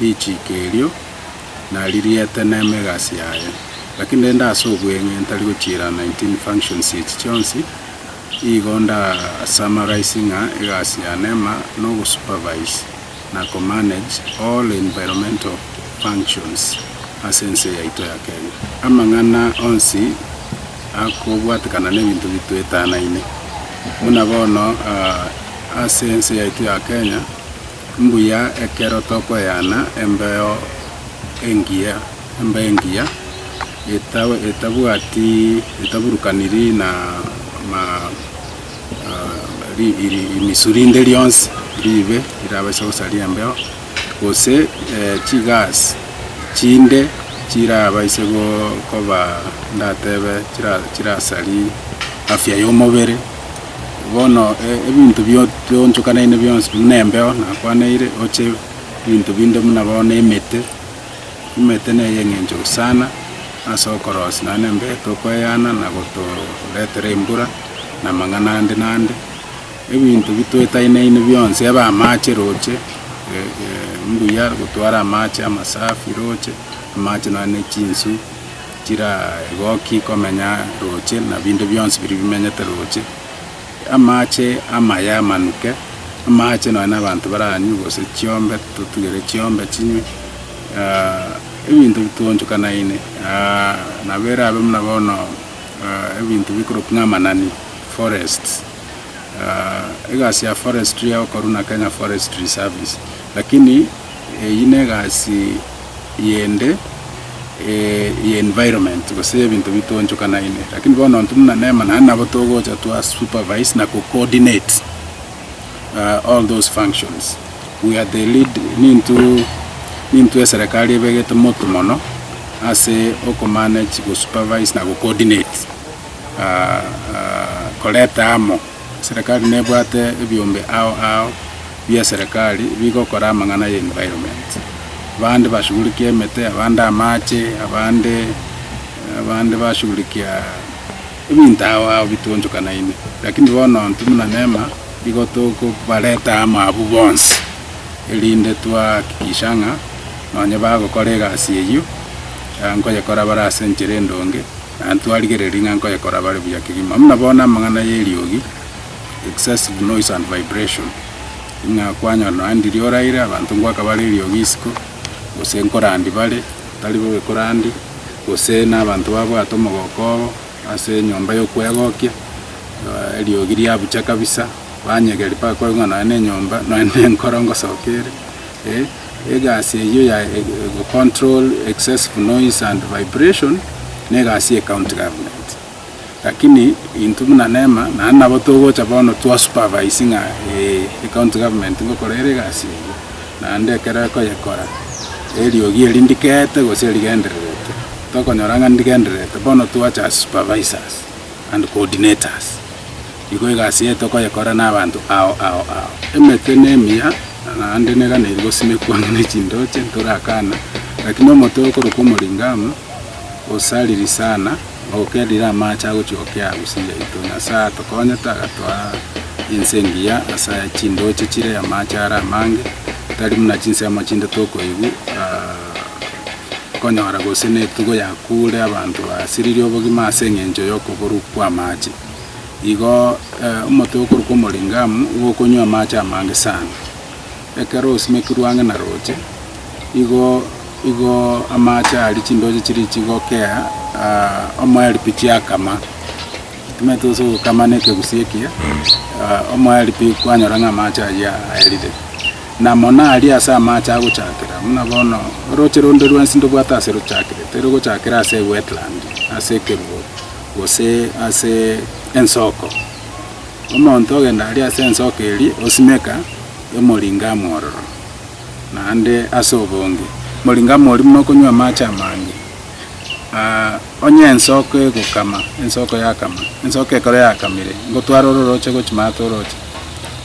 richiiko erio, naririete nemegasi yaye. Lakini rende ase obweng'e ntari gochiira 19 functions echi chionsi, igo nda summarise ng'a egasi ya Neema nogo supervise na ko manage all environmental functions ase ense yaito ya Kenya. Amang'ana onsi akobwatekana nebinto bitoetanaine. Buna bono ase ense yaito ya Kenya, Mbuya ekero tokoyana embeo engiya, embeo engiya etabwati, etaburukaniri na risu rinde rionsi riibe rirabase gosaria embeo, gose chigas chinde chirabaise koba, ndatebe chirasaria afya y'omobere. Bono ebinto bitoonchokanaine bionsi buna embeo nakwanaire, oche ebinto binde buna bono emete. Emete neye engencho sana ase okorosia naende nembeo tokweyana na gotoretera embura na amang'ana ande na ande. Ebinto bitoetainaine bionsi ebe amache roche mbuya gotwara amache amasafi roche amache nonya ne chinsu. Chiragoki komenya roche, na binde bionsi biria bimenyete roche, amache amaye amanuke, amache nonya na abanto baranywe, gose chiombe totugere chiombe chinywe, ah, ebinto bitoonchokanaine, ah, nabo erabe buna bono ah, ebinto bikorokwa ng'a amanani, forests, ah, egasi ya forestry egokorwa na Kenya Forestry Service, lakini eyio negasi eyende ye environment gose ebinto bitoonchokanaine. Lakini bono intwe buna Neema naende nabo togocha twa supervise na ko coordinate all those functions. We are the lead nintwe nintwe eserekari ebegete motu mono ase oko manage go supervise na go coordinate koreta amo. Serikali nebwate ebiombe ao ao bi'eserikali bigokora amang'ana ya environment. Abande bashugurikia emete, abande amache, abande abande bashugurikia ebinto ao ao bituonchokanaine. Lakini bono intwe buna nema igo tokobareta amo abwo bonsi erinde twahakikisha ng'a nonye bagokora egasi eyio, nkoyekora bare ase enchera endonge. Na ntwarigereria ng'a nkoyekora bare buya kegima. Buna bono amang'ana y'eriogi, excessive noise and vibration, ng'a kwanyora nonya ndiria oraire, abanto ngoaka bare eriogi isiko, gose nkorandi bare batari bobe korandi, gose na abanto babwate omogoko obo ase enyomba y'okwegokia, eh, eriogi riabucha kabisa, banyegeri mpaka kore ng'a nonya na enyomba, nonya na enkoro ngosoka ere, eh. Egasi eyio ya egocontrol excessive noise and vibration negasi ye county government. Lakini intwe buna Neema naende nabo togocha bono twa supervise ng'a eeh ecounty government ngokora ere egasi eyio naende ekero ekoyekora eriogi eri ndikeete gose rigendererete tokonyora ng'a ndigendererete bono twache as supervisors and coordinators. Igo egasi yaye tokoyekora nabanto ao ao ao. Emete nemiya, na naende neganeiri gosimekwa ang'e ne chindooche, ntorakana, lakini omotwe okorokwa Omoringamu osariri sana, ogokerire amaache agochia gokea agusi yaito. Nyasaye atokonyete agatoa ense engiya ase chindooche chire, amaache are amange, tari buna chinsemo chinde tokoigwa konyora gose netugo yakuure, abanto basiririe obogima ase eng'encho yokoborwa kw'amaache. Igo omotwe okorokwa Omoringamu igo okonywa amache amange sana. Ekero osimekirwe ang'e na roche, igo igo amache aria chindoche chiria chigokea omoeripi chiakama. Timanyeti gose ogokama na ekegusii ekiya, omoeripi kwanyora ng'a amache ayio aerire. Na mono aria ase amache agochakera, buna bono oroche ronde rwensi ndobwate ase rochakire, tirogochakera ase ewetland, ase ekeruoro. gose ase ensoko. Omonto ogenda aria ase ensoko eria osimeka emoringa amwororo, naende ase obonge moringa amoria buna okonywa amache amange. Onye ensoko egokama, ensoko yakama, ensoko ekero yakamire, ngotware ororoche gochia maate oroche,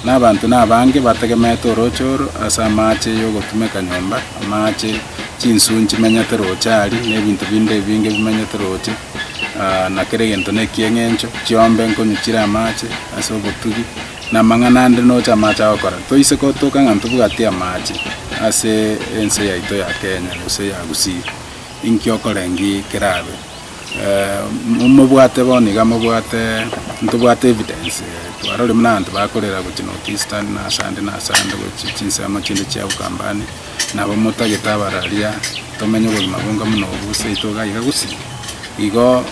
na abanto nabange bategemete orooche oro ase amaache y'ogotumeka nyomba, amaache, chinswe nchimenyete rooche aaria, na ebinto binde ebinge bimenyete rooche, ah, na kera egento nekiya eng'encho chiombe nkonyichire amaache ase obotugi, na amang'ana ande noche amaache agokora. Toise gotoka ng'a ntobwati amaache ase ense yaito ya Kenya gose ya Gusii, inki okorengi kerabe? Momobwate bono iga mobwate, ntobwate evidence, twarorire buna abanto bakorera gochia North Eastern na ase ande na ase ande gochia chinsemo chinde chia Ukambani, nabo motagete abararia tomenye obogima bwenka buna obo bose oito iga iga gose? Igo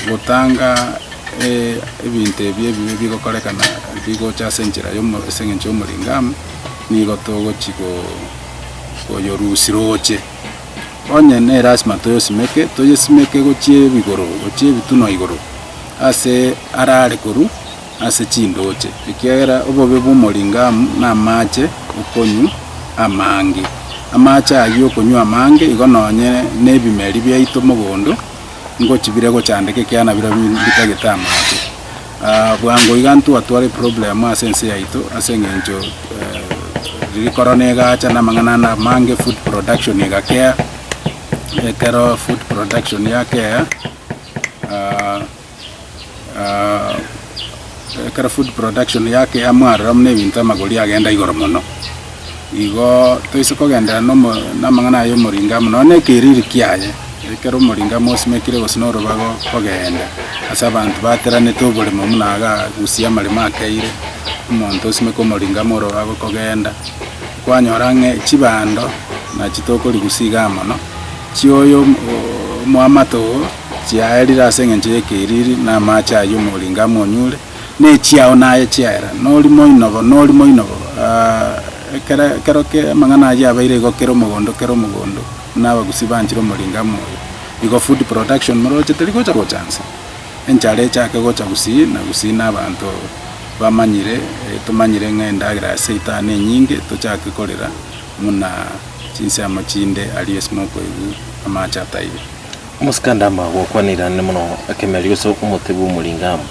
gotanga ebinto ebi ebibe bigokorekana bigocha ase enchera ya omo ase eng'encho ya omoringo amo nigo togochia ko koyorusia roche. Onye nere asima toyosimeke, toyesimeke gochia ebigoro, gochia ebitunwa igoro ase araare korwa ase chindooche, ekiagera obobe bw'omoringamu namaache okonywa amange. Amaache ayio okonywa amange igo nonye nebimeri biaito mogondo ngochibire gochandeka ekiagera nabirobio mbitagete amaache. Ah, bwango iga ntwatware eproblemu ase ense yaito ase eng'encho eh, riri korona egacha na amang'ana ande amange food production egakea ekero food production yakea ah, ah, ekero food production yakea mwarora muna ebinto amagori agenda igoro mono igo toise kogenderera nomo namang'ana aye omoringo amo nonya ekeriri kiaye, ekero omoringo amo osimekire gose na orobago kogenda ase abanto bateranete oboremo buna iga agusie amaremo akeire, omonto osimeke omoringo amo orobago kogenda, kwanyora ng'a chibando nachi tokorigusia igaa mono, chioyo omwamato oo chiaerire ase eng'encho y'ekeriri na amache aywo omoringo amo onyure. ne chiao naye chiaera, nori moinogo, nori moinogo, aah, ekere, ekero ke, amang'ana ayio abeire igo kera omogondo, kera omogondo, buna abagusi banchire omoringo amo oyo. Igo food production moroche teri gocha gocha nse. Enchara echake gocha gusii na gusii na abanto bamanyire, eh, tomanyire ng'a endagera ya seitani enyinge, tochake korera muna chinsemo chinde aria ase mokoigwa amache ataiyo. Omosikanda ama gokwana irane mono, ekemerio ase omote bw'omoringo amo.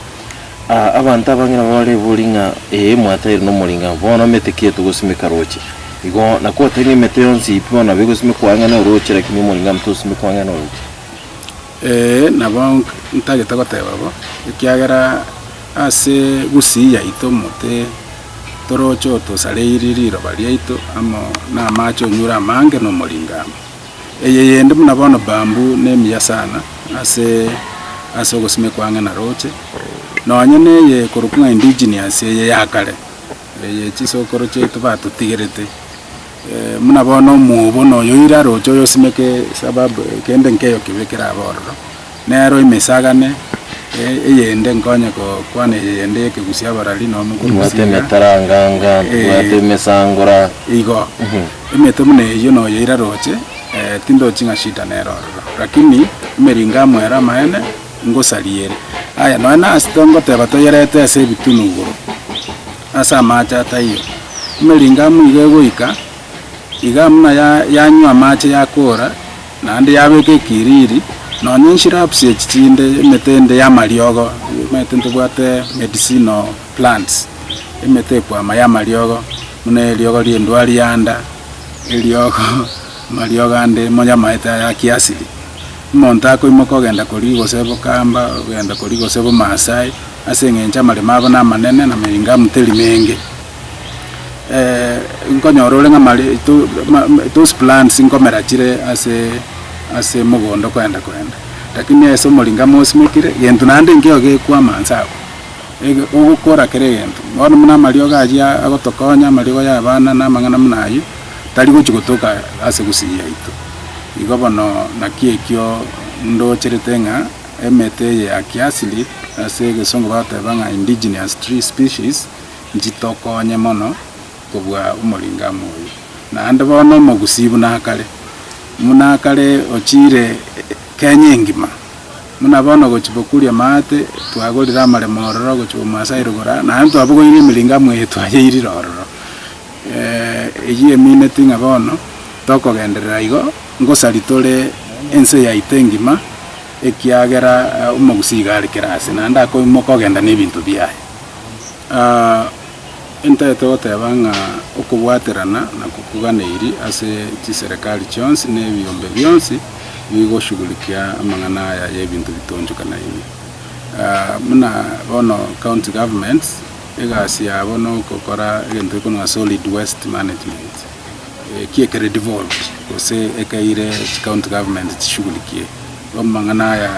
Aa, abanto abang'ina babarebori ng'a, Ee, mwatairwe nomoringa, bono emete ki etogosimeka roche? Igo nakote ng'a emete yonsi pi bono nabo egosimekwa ang'e noroche, lakini omoringa nabo tosimekwa ang'e noroche. Ee, nabo ntagete goteba bo, ekiagera ase gusii yaito omote toroche otosareiri riroba riaito amo namache onyure amange nomoringa amo. Eye yende buna bono bamb'u nemiya sana ase ase ogosimekwa ang'e na roche, nonye neye ekorokwa ng'a indigenous eye ya kare, eye chisokoro chiaito batotigerete. Eh, buna bono omwobo noyo oira roche oyosimeke sababu kende nkeyo kibe kerabe ororo, Nero imesagane eyende nkonye gokwana eyende y'ekegusia abarari nomo Tubwate gogusiga. emetaranganga, tubwate Eh. emesangora. Igo, emete buna eyio noyo ira roche, eh, tindochi ng'a shida nere ororo. Lakini emeringo amo ere amaene, ngosariere. Aya, nonya nase tongoteba toyerete ase ebitunu igoro, ase amache ataiyo. Emeringo amo iga egoika, iga buna ya- yanywa amache yakoora, Naende yabeka ekiriri, nonya enshrubs echi chinde, emete ende y'amariogo, omanyete ntobwate medicinal plants, emete ekwama y'amariogo, buna eriogo ri'endwari ya nda, eriogo amariogo ande monya amaete aya a kiasili. Omonto akoimoka ogenda koria gose bokamba, ogenda koria gose bomaasai, ase eng'encho amaremo abo namanene, na meringa amteri menge. nkonyora ore ng'a those plants nkomera chire ase ase mogondo kwenda kwenda lakini ase omori nkamosimekire gento naende nkeiyo gekwama inse abwo ege ogokora kera egento bono buna amariogo ayio agotokonya amariogo ya abana na amang'ana buna ayio tari gochi gotoka ase gusii yaito igo bono naki ekio ndocherete ng'a emete eye ya kiasili ase egesongo bagoteba ng'a indigenous tree species. Nchitokonye mono kobua omoreng'anio oye, naende bono omogusii buna kare, buna kare ochiire Kenya engima. Buna bono gochia bokuria maate, twagorire amaremo ororo gochia Bomaasai Rugura, naende twabogoirie emereng'anio eye twayeirire ororo. Eyio emineti ng'a bono tokogenderera igo, ngosari tore ense yaito engima, ekiagera omogusii iga are kera aase, naende akoimoka ogenda nebinto biaye. Ntagete goteba ng'a okobwaterana nakokoganeiri ase chiserekari chionsi na ebiombe bionsi bigoshugurikia amang'ana aya y'ebinto bitoonchokanaine. Buna bono county governments, egasi yabo nogokora egento gekorwa ng'a solid waste management, eki ekere devolved gose ekeire chicounty government chishugurikie. Amang'ana aya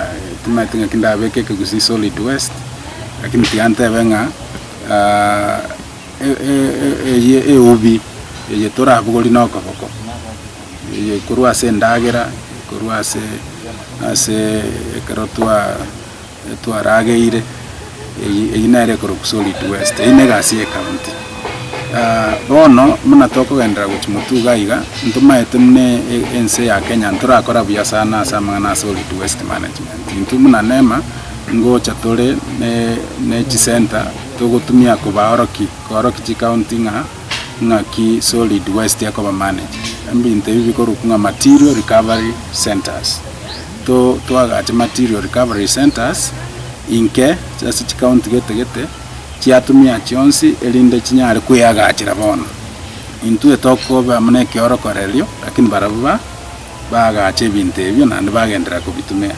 timaete ng'aki ndabeke ekegusii solid waste, lakini tiga ntebe ng'a eye eubi eye torabogorie na okoboko, eye korwa ase endagera, korwa ase ase ekero twa. Twarageire eyio nere ekorokwa solid west eyio negasi ye county bono buna tokogenderera gochia motuga iga ntomaete buna ense ya kenya ntorakora buya sana ase amang'ana a solid west management intwe buna nema ngocha tore ne chisenta togotumia kobaoroki kooroki chikaunti ng'a ng'aki solid west ekoba managed ebinto ebi bikorokwa ng'a material recovery centers. To twagache material recovery centres inke ase chicounty gete gete chiatumia chionsi erinde chinyare kweagachera bono. Intwe tokoba muna ekeorokorerio lakini barabwo ba baagache ebinto ebio naende bagenderera kobitumia.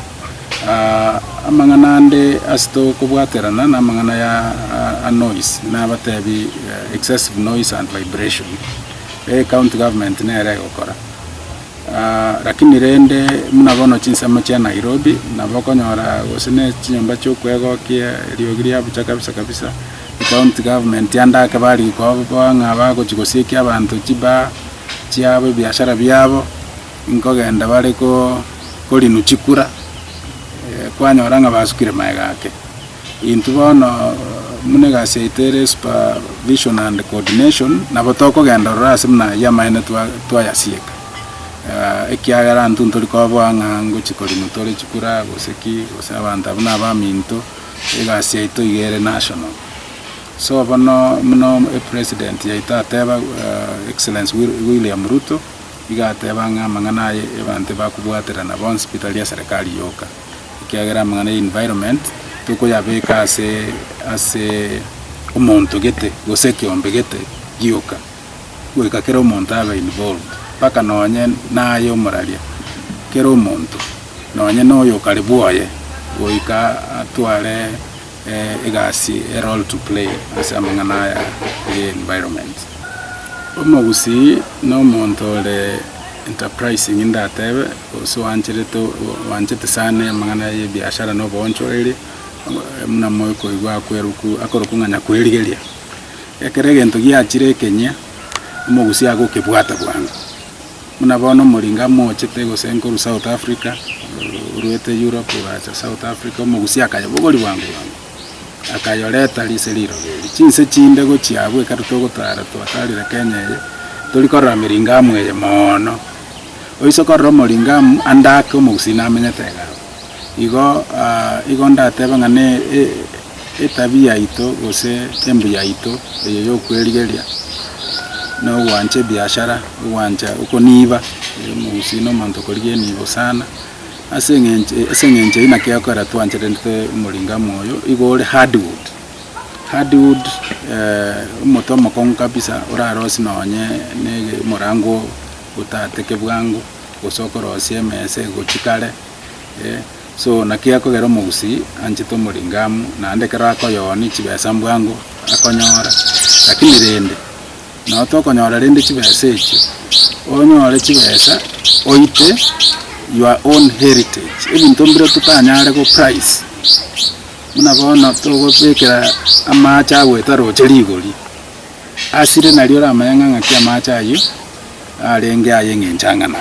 Aah amang'ana ande ase tokobwaterana na amang'ana ya a noise nabatebi excessive noise and vibration. Ecounty government nere egokora. Rakini rende muna bono chinsemo chia Nairobi nabo okonyora gose ne chinyomba chia okwegokia eriogi ria bucha kabisa kabisa, county government ande ake bari koboa ng'a bagochi gosiekia abanto chiba chiabo ebiashara biabo, nkogenda bare ko ko renew chikura, kwanyora ng'a basukire magega ake. Intwe bono buna egasi yaito ere supervision and coordination, nabo tokogenda ororo ase buna ayio amaene twayasieka, ekiagera intwe ntori koboa ng'a ngochia koremwa tore chikura gose ki, gose abanto abwo na abaminto, egasi yaito iga ere national. So bono buna president yaito ateba Excellence William Ruto, iga ateba ng'a amang'ana aye abanto bakobwaterana bonsi pi tari aserekari yoka. ekiagera amang'ana ya environment tokoyabeka ase ase omonto gete gose ekiombe gete gioka, goika kera omonto abe involved mpaka nonye naye omoraria, kera omonto nonye na oyo okare bwoye goika atware eh, egasi a role to play ase amang'ana aya ya environment. Omogusii na omonto ore enterprising ndatebe. Gose oancherete oanchete sana amang'ana y'ebiashara na oboonchoreria, buna moikoigwa akwerokw akorokwo ng'a Nyakwerigeria. Ekero egento giachire ekeng'ia, omogusi agokebwata bwango. Buna bono omoringa mochete gose nkorwa South Africa, orwete Europe oracha South Africa, omogusi akaya bogori bwango bwango. akayoreta rise rirobe eri. Chinse chinde gochia abwo ekero togotara twatarire Kenya eye, tori korora miringamu eye moono. Oise korora omoringamu ande ake omogusii namenyete iga abwo. Igo igo ndatebe ng'a ne etabia yaito gose embu yaito eye yokwerigeria na ogwancha ebiashara, ogwancha okoniiba, omogusii na omonto okorigia eniibo sana. Ase engencho eye naki ekogera twancherete omoringo amo oyo igo ore hard wood, hard wood omote omokong'u kabisa orarosie nonye omorango otateke bwango gose okorosie emesa egochi kare so naki ekogera omogusii anchete omoringo amo naende ekero akoyooni chibesa bwango akonyora lakini rende. Nao tokonyora rende chibesa echio, onyore chibesa oite your own heritage, ebinto mbire totanyare go price, buna bono togobekera amache agoeta roche rigori, asire nario oramanye ng'a ng'aki amache ayio. Narenge aye ng'enchang'ana,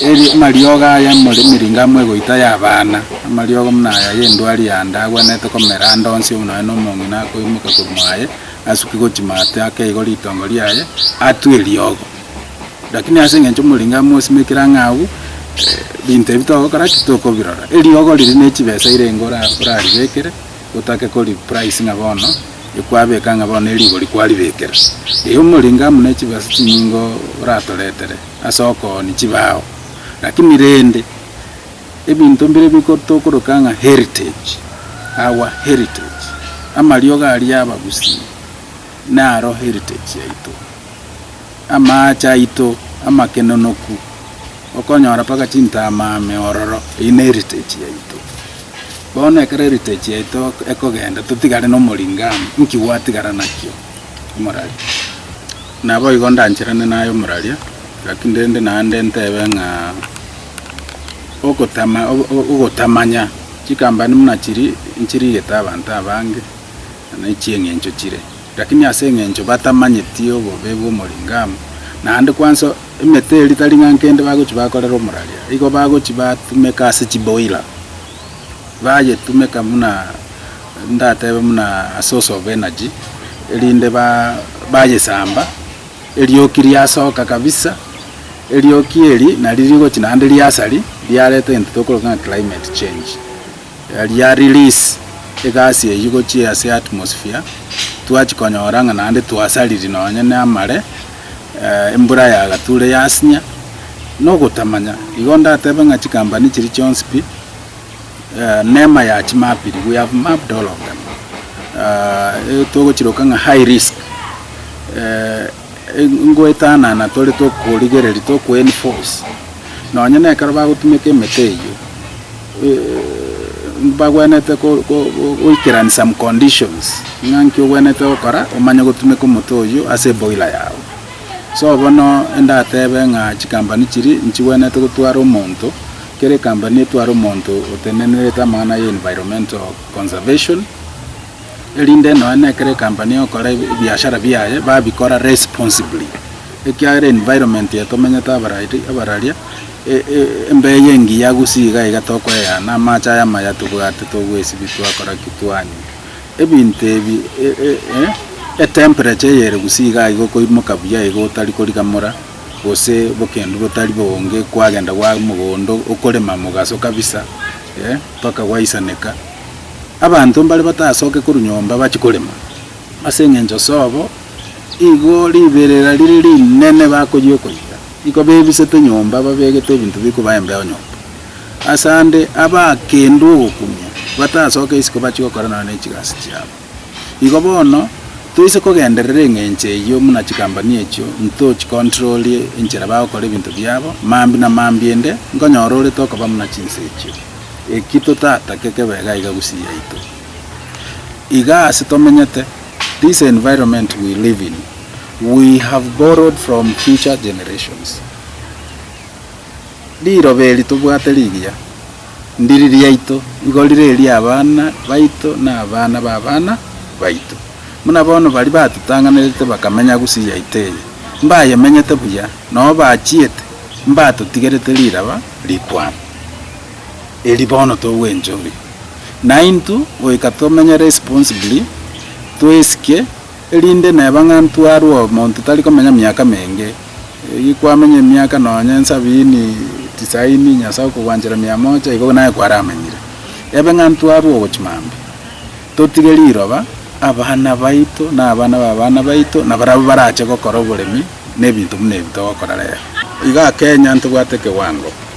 eri amariogo aya emiringo amwegoita y'abana, amariogo buna aya y'endwari yande agwenerete komera ande onsi omonene omong'ina akoimoka korwa mwaye, asuke gochia maate ake igo ritongo riaye, atwe eriogo. Lakini ase engencho omoringo amosimekire ang'e agwo, binto ebi togokora ki? Tokobirora. Eriogo riria nechibesa ire enga oraribekere. gotake kori price ng'a bono ekwabeka ng'a bono ne rigori kwaribekera ee omoringa amo ne chibesa chinyinge oratoretere ase okoonia chibao lakini rende ebinto mbire biko tokoroka ng'a heritage our heritage amariogo aria abagusii. Naro heritage yaito, amaache aito amakenonoku, okonyora mpaka chintama ame ororo, eyio ne heritage yaito. Bono ekero heritage yaito ekogenda totigare nomoringo amo, nki gwatigara nakio? Omorari. Naboigo ndancherane naye omoraria, lakini rende naende ntebe ng'a ogotama ogotamanya chikampani buna chiri nchirigete abanto abange. na naichie eng'encho chire, lakini ase eng'encho batamanyeti obobe bw'omoring'amo, naende kwanso emete eria tari ng'a nkende bagochi bakorera omoraria, igo bagochi batumeka ase chiboira, bayetumeka buna ndatebe buna a source of energy, erinde ba bayesamba, erioki riasoka kabisa, erioki eri nari rigochi naende riasari, riareta egento tokoroka ng'a climate change. Riria ya release egasi eyio gochia ase atmosphere, twachi konyora ng'a naende twasariri nonye ne amare, embura ya gature yasinya, na ogotamanya. Igo ndatebe ng'a chikampani chiria chionsi pi, neema ya chimapiri, we have mapped all of them, togochiroka ng'a high risk. Ngoetanana tore tokorigereria tokoenforce nonye nekero bagotumeka emete eyio mbagwenerete goikerania some conditions ng'a nki ogwenerete gokora omanye gotumeka omote oyio ase eboiler yago. So bono ndatebe ng'a chikampani chiria nchigwenerete gotwara omonto kera ekampani etware omonto otenenerete amang'ana ya environmental conservation. erinde nonya na ekero ecompany egokora ebiashara biaye babikora responsibly, ekiagera environment eye tomenyete abarari abararia embeyo engiya gusii iga iga tokoeana, amache aya amaya tobwate togoesibia twakora ki twanywa, ebinto ebi etemperature eyere gusii iga iga okoimoka buya iga otari korigamora gose bokendu botari boonge kwagenda gwa mogondo okorema mogaso kabisa mpaka gwaisaneka. Abanto mbare batasoke korwa nyomba bachie korema, ase engencho sobo igo riberera rire rinene bakoyia okoyia, nigo bebisete nyomba babegete ebinto bikoba embeo nyomba. Ase ande abaakendwe ogokumia batasoke isiko bachie gokora nonya ne chigasi chiabo. Igo bono toise kogenderera engencho eyio muna chikambani echio nto chi controlie enchera bagokora ebinto biabo, mambia na mambia ende nkonyora orete okoba muna chinse echio. Eki totatake kebe egaiga gusii yaito. Iga ase tomenyete, this environment we live in, we have borrowed from future generations. Riroba eri tobwate rigiya, ndiri riaito, igo rire eria abana baito na abana b'abana baito. Buna bono baria batotang'anerete bakamenya gusii yaito eye, mbayemenyete buya, nao bachiete, mbatotigerete riraba rikwane. erio bono togwencha obe, naintwe goika tomenye responsibly, toesike, erinde neba ng'a ntwarwa omonto tari komenya miaka menge, erio kwamenya emiaka nonye nsabini, tisaini, Nyasae okogwanchera mia moja, igo naye kwaramenyire, ebe ng'a ntwarwa ogochia mambia, totige riroba, abana baito, na abana ba abana baito, na barabwo barache gokora oboremi, na ebinto buna ebi togokora rero. Igaa Kenya ntobwate ekewango.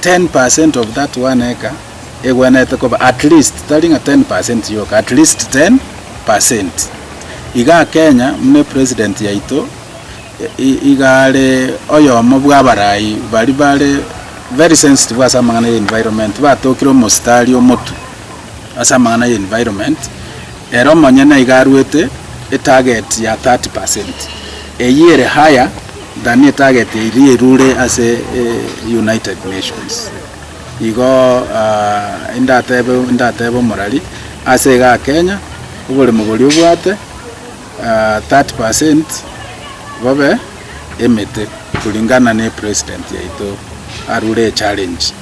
Ten per cent of that one acre egwenerete koba at least, tari ng'a ten per cent yoka, at least ten per cent. Iga Kenya buna President yaito iga are oyomo bw'abarai baria bare very sensitive ase amang'ana ya environment, batokire omositari omotu ase amang'ana ya environment, ere omonyene iga arwete etarget ya thirty per cent. Eyio ere higher. Danny etagete eria erure ase United Nations. Igo indatebe indatebe omorari ase igaa Kenya oboremo boria obwate 30% bobe emete kulingana ne president yaito arure echallenge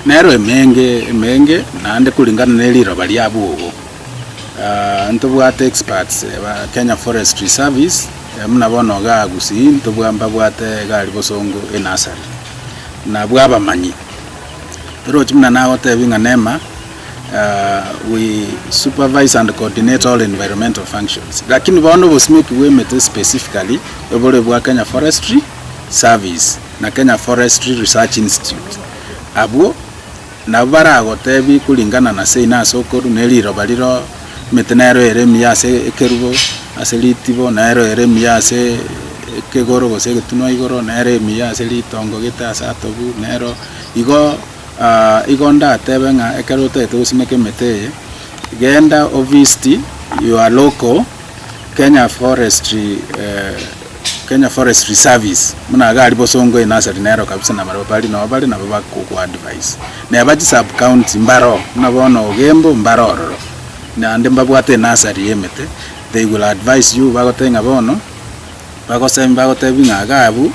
nero emenge emenge naende kulingana ne riroba riabo obo. Ntobwate experts ba Kenya Forestry Service buna bono iga Gusii ntobwa mbabwate iga aria bosongo e nursery buna abwo abamanyi orochi buna nagotebie ng'a Neema we supervise and coordinate all environmental functions lakini bono obosimoki bwa emete specifically ebore obwa Kenya Forestry Service na Kenya Forestry Research Institute abwo Nabo baragoteebie, Koringana na seino ase okoru ne riroba riro, emete nero ere emiya ase ekerubo, ase ritibo nero ere emiya ase ekegoro gose egetunwa igoro, nero emiya ase ritongo gete ase atobu, nero igo ah, igo ndatebe ng'a ekero otagete gosimeka emete eye, genda ovisit your local Kenya Forestry eh, Kenya Forest Reserves buna iga ari bosongo e nursery nero kabisa na barabwo bari nabo bare nabo bakoku advise neba chi sub county mbaro buna bono Ogembo mbaro ororo naende mbabwate e nursery ye emete they will advise you bagotebie ng'a bono bagose bagotebie ng'a iga abwo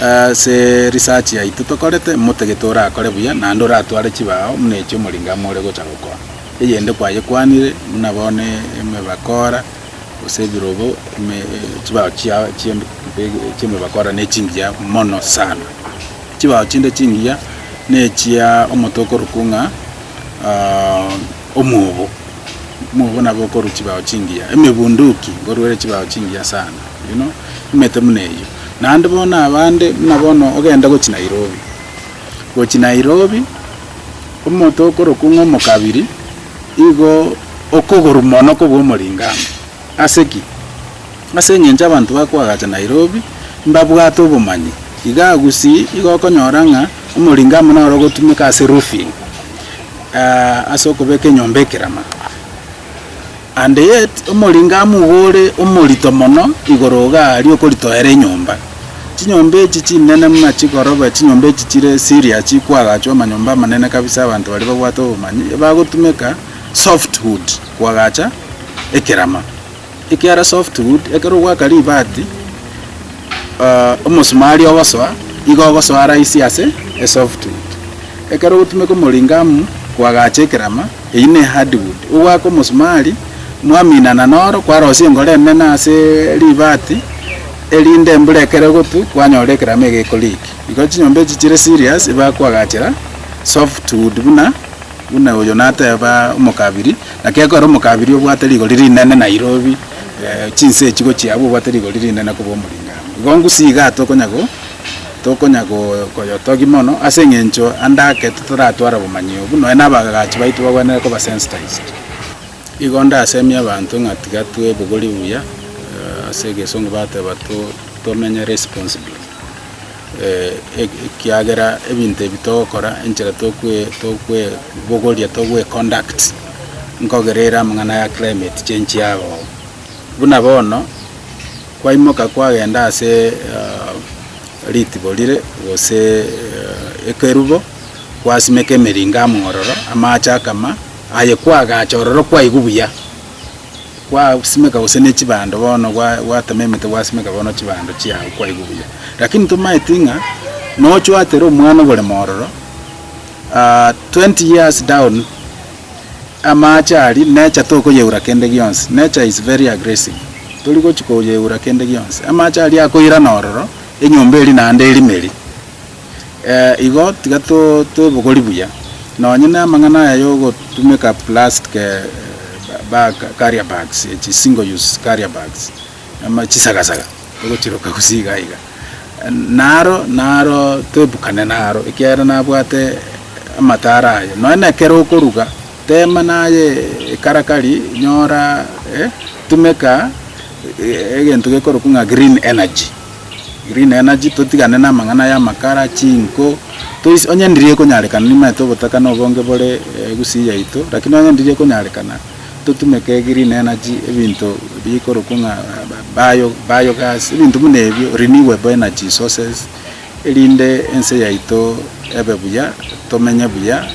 ase research yaito tokorete motagete orakore buya naende oratware chibao buna echi omoringo amo ore gocha gokora. Eyende kwayekwanire buna bono eme bakora. gose ebirogo ime chibao chia chia chi'emebakora ne chingiya mono sana. Chibao chinde chingiya nechia omonto okorokwa ng'a ah, omwobo omwobo nabo okorwa chibao chingiya emebunduki nkorwere chibao chingiya sana you know nimanyete buna eyio. Naende bono abande buna bono ogenda gochia Nairobi, gochia Nairobi omonto okorokwa ng'a omokabiri. Igo okogorwa mono kobw'omoring'ango. Ase ki? Ase engencho abanto bakoagacha Nairobi mbabwate obomanyi. Igaa gusii igo okonyora ng'a omoring'amo noro ogotumeka ase roofing, ase okobeka enyomba ekerama. And yet omoring'amo igo ore omorito mono igoro igaa aria okoritoera enyomba. Chinyomba echi chinene buna chikoroba, chinyomba echi chire Syria chikwagachwa amanyomba amanene kabisa abanto baria babwate obomanyi ebagotumeka soft wood kwagacha ekerama. Ekiara soft wood ekero ogwaka ribati ah, omosumari ogosoa igo ogosoa rahisi ase e soft wood. Ekero ogotumeka omoringamu kwagacha ekerama eyio ne hard wood. Ogwaka omosumari mwaminana noro kwarosia engoro enene ase ribati. Erinde mbura ekere ogotwa kwanyora ekerama ege ekoriiki. Igo chinyomba echi chire serious iba kwagachera soft wood buna buna oyo nateba omokabiri naki ekore omokabiri obwate rigori rinene Nairobi chinse echi gochia abwo obwate rigori rinene koba omoring'ango. Igo ngusi igaa tokonya go tokonya go koyotogi mono ase eng'encho ande ake totaratwara obomanyi obo nonya na abagachi baito bagwenerete koba sensitized. Igo ndasemie abanto ng'a tiga twebogori buya, ase egesongo bateba tomenye responsibly, ekiagera ebinto ebi togokora, enchera tokwebogoria, togweconduct, nkogerere amang'ana ya climate change yagoa. Buna bono, kwaimoka kwagenda ase ritibo rire gose ekerubo. kwasimeka emeringa amo ororo, amaache akama, aye kwagacha ororo kwaigwa buya, kwasimeka gose ne chibando bono gwa gwatema emete gwasimeka bono chibando chiago kwaigwa buya. Lakini tomaeti ng'a nochwatere omwana oboremo ororo, twenty years down, amaache aria nature tokoyeura kende gionsi, nature is very aggressive, tori gochia koyeura kende gionsi, amaache aria akoirana ororo, enyomba eria naende erimeri. Ee, igo, tiga twebogori buya. Nonye ne amang'ana aya yogotumeka plastic bag, carrier bags echi single use carrier bags, ama chisaga-saga togochiroka gose iga iga. Naro, naro toebukane naro ekiagera nabwate amatara aye. Nonye na ekero okoruga, tema naye ekarakari, nyora, eh, tumeka egento gekorokwa ng'a green energy. Rinena chi, totigane namang'ana y'amakara, chinko, toise, onye ndiria ekonyarekana nimanyete obotaka na obonge bore egusii yaito, lakini onye ndiria ekonyarekana, totumeke rinena chi, ebinto bikorokwa ng'a bio, biogas, ebinto buna ebio, renewable energy sources, erinde ense yaito ebe buya, tomenye buya,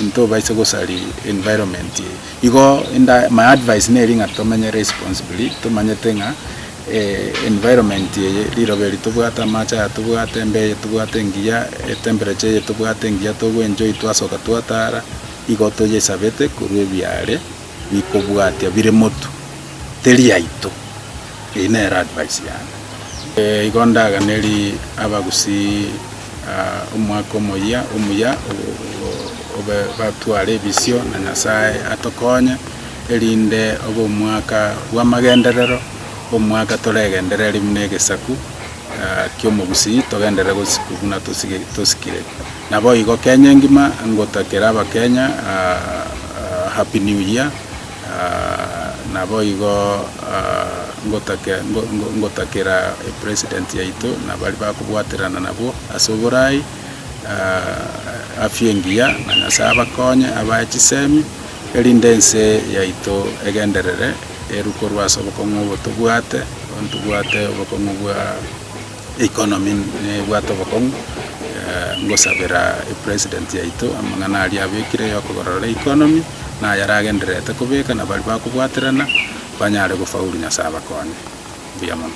ntobaise gosari environment. Igo enda, my advice neri ng'a tomenye responsibly, tomanyete ng'a. environment eye, riroba eri tobwate, amache aya tobwate, embea eye tobwate engiya, etemperature eye tobwate engiya togo enjoy twasoka twatara, igo toyesabete korwa ebiare bikobwatia bire motu teri yaito. Eyio nere advice yane. Igo ndaganerie abagusii omwaka omoyia omuya obe batware ebisio na Nyasaye atokonye. erinde obe omwaka bw'amagenderero, omwaka toregenderere rime na egesaku ki'omogusii, togenderere gosiku buna tosikire. Naboigo Kenya engima ngotakera abakenya Happy New Year, naboigo ngotakera President yaito na baria bakobwaterana nabwo ase oboraai, afya engiya na Nyasaye abakonye abae chisemi. erinde ense yaito egenderere eru korwa ase obokong'u obo tobwate, bono tobwate obokong'u bwa economy nebwate obokong'u, ngosabera epresident yaito amang'ana aria abekire ya okogorora economy na ayaragendererete kobeka na baria bakobwaterana banyare gofaulu, Nyasae abakonye. Mbuya mono.